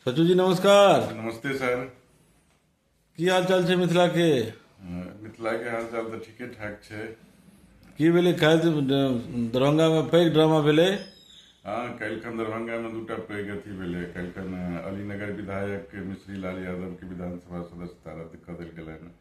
सचू जी नमस्कार नमस्ते सर की हाल चाल छै मिथिला के मिथिला के हाल चाल तऽ ठीके ठाक छै की भेलै काल्हि दरभंगा में पैघ ड्रामा भेलै हाँ काल्हिखन दरभंगा में दूटा पैघ अथी भेलै काल्हिखन अलीनगर विधायक मिश्री लाल यादव के विधानसभा सदस्यता रद्द कऽ देल गेलनि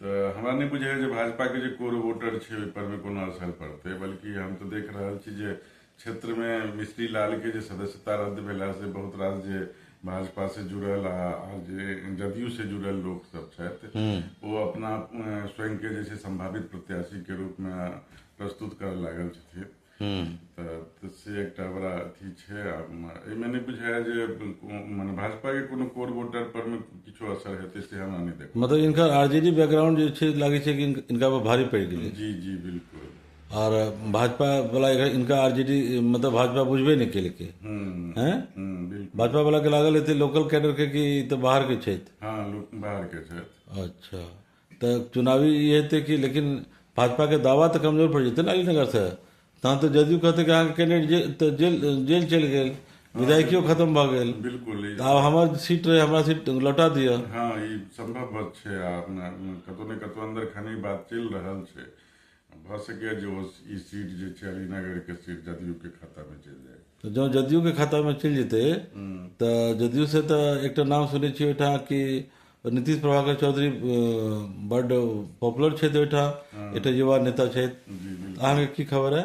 तऽ हमरा नहि बुझाइए जे भाजपाके जे कोर वोटर छै ओहिपर मे कोनो असर पड़तै बल्कि हम तऽ देख रहल छी जे क्षेत्रमे मिश्री लालके जे सदस्यता रद्द भेलासँ बहुत रास जे भाजपा से जुड़ल आ आर जे जदयू से जुड़ल लोक सब छथि ओ अपना अ, स्वयं के जे छै संभावित प्रत्याशी के रूप में प्रस्तुत करऽ लागल छथिन तऽ तऽ से एकटा बड़ा अथी छै आ एहिमे नहि बुझाइए जे मने भाजपाके कोनो कोर वोटर परमे किछो असर हेतै से हमरा नहि देख मतलब इनकर आरजेडी बैकग्राउंड जे छै लागै छै कि इन- इनका पर भारी पड़ि गेलै जी जी बिल्कुल और भाजपा वाला इनका- इनका आरजेडी मतलब भाजपा बुझबे नहीं केलकै हम्म, हैं हम्म, बिल्कुल भाजपा वाला के लागल हेतै लोकल कैडर के कि ई तऽ बाहर के छथि हाँ लोक बाहरके छथि अच्छा तऽ चुनावी ई हेतै कि लेकिन भाजपाके दावा तऽ कमजोर पड़ि जेतै ने अलीनगरसँ तहन तऽ जदयू कहतै कि अहाँके कैंडिडेट जे तऽ जेल जेल चलि गेल विधायकियो खतम भऽ गेल बिल्कुल ई- तऽ आब हमर सीट रहै हमरा सीट लौटा दिअ हँ ई संभव बात छै आ अपना कतौ ने कतौ अंदर खानी बात चलि रहल छै भऽ सकैए जे ओ ई सीट जे छै अलीनगरके सीट जदयूके खातामे चलि जाय तऽ जँ जदयूके खातामे चलि जेतै तऽ जदयू से तऽ एकटा नाम सुनै छियै ओहिठाम कि नीतीश प्रभाकर चौधरी अ, बड्ड पॉपुलर छथि ओहिठाम एकटा युवा नेता छथि अहाँके की खबर है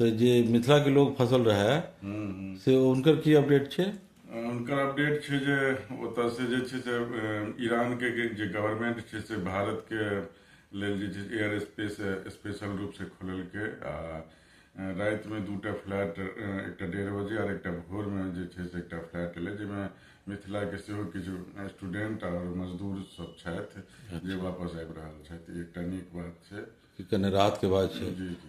तऽ जे मिथिलाके लोक फसल रहए से हुनकर की अपडेट छै हुनकर अपडेट छै जे ओतऽसँ जे छै से ईरानके जे गवर्नमेंट छै से भारतके लेल जे छै एयर स्पेस स्पेशल रूपसँ खोललकै आ रातिमे दूटा फ्लैट एकटा डेढ़ बजे आओर एकटा भोरमे जे छै से एकटा फ्लैट एलै जाहिमे मिथिलाके सेहो किछु स्टूडेंट आओर मजदूर सब छथि जे वापस आबि रहल छथि एकटा नीक बात छै कि कने राहत के बात छै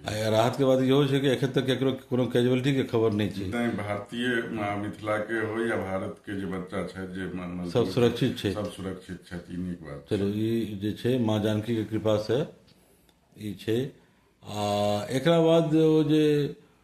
आ या राहत के बात इहो छै कि एखन तक केकरो कोनो कैजुअलिटी के खबर नहि छै तैं भारतीय आ, मिथिला के हो या भारत के जे बच्चा छथि जे म- मजदूर सब सुरक्षित छै सब सुरक्षित छथि ई नीक बात चलू ई जे छै माँ जानकी के कृपा से ई छै आ एकरा बाद ओ जे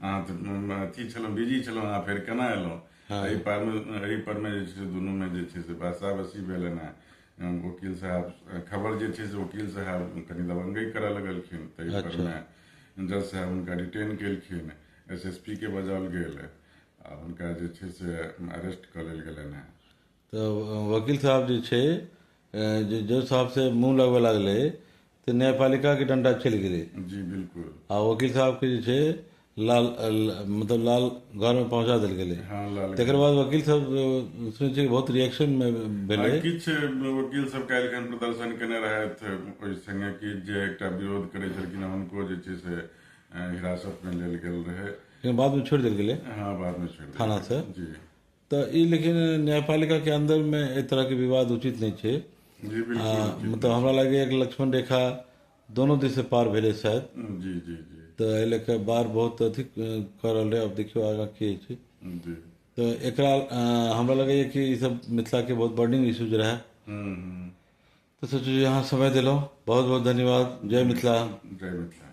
अहाँ तऽ म- म- अथी छलहुँ बिजी छलहुँ अहाँ फेर केना एलहुँ एहि परमे एहि परमे जे छै से दुनूमे जे छै से बासाबसी भेल एना वकील साहब खबर जे छै से वकील साहब कनि दबंगई करऽ लगलखिन ताहि परमे जज साहब हुनका डिटेन केलखिन एस एस पी के बजाओल गेल आ हुनका जे छै से अरेस्ट कऽ लेल गेलनि हेँ तऽ वकील साहब जे छै जे जज साहब से मुंह लगबे लागले तऽ न्यायपालिका के डंडा चलि गेलै जी बिल्कुल आ वकील साहब के जे छै लाल ल- मतलब लाल घर में पहुंचा देल गेलै हाँ लाल तकर बाद वकील सब अ, सुनै छियै कि बहुत रिएक्शन में भेलै आ किछु वकील सब काल्हि खन प्रदर्शन केने रहथि ओहि संगे कि जे एकटा विरोध करै छलखिन हँ, हुनको जे छै से अ, हिरासत मे लेल गेल रहै लेकिन बाद में छोड़ि देल गेलै हाँ बाद मे छोड़ि देल। थाना से जी तऽ ई लेकिन न्यायपालिका के अंदर में एहि तरह के विवाद उचित नहीं छै जी आ, बिल्कुल मतलब हमरा लगे एक लक्ष्मण रेखा दोनों दिस से पार भेले शायद जी जी जी तऽ एहि लेके बार बहुत अथी अ, कर रहल रहे अब देखियो आगा की होइ छै जी तऽ एकरा अ, हमरा लगैए कि ई सब मिथिला के बहुत बर्निंग इश्यूज रहे हम्म, हम्म। तऽ सोचू जे अहाँ समय देलहुँ बहुत बहुत धन्यवाद जय मिथिला जय मिथिला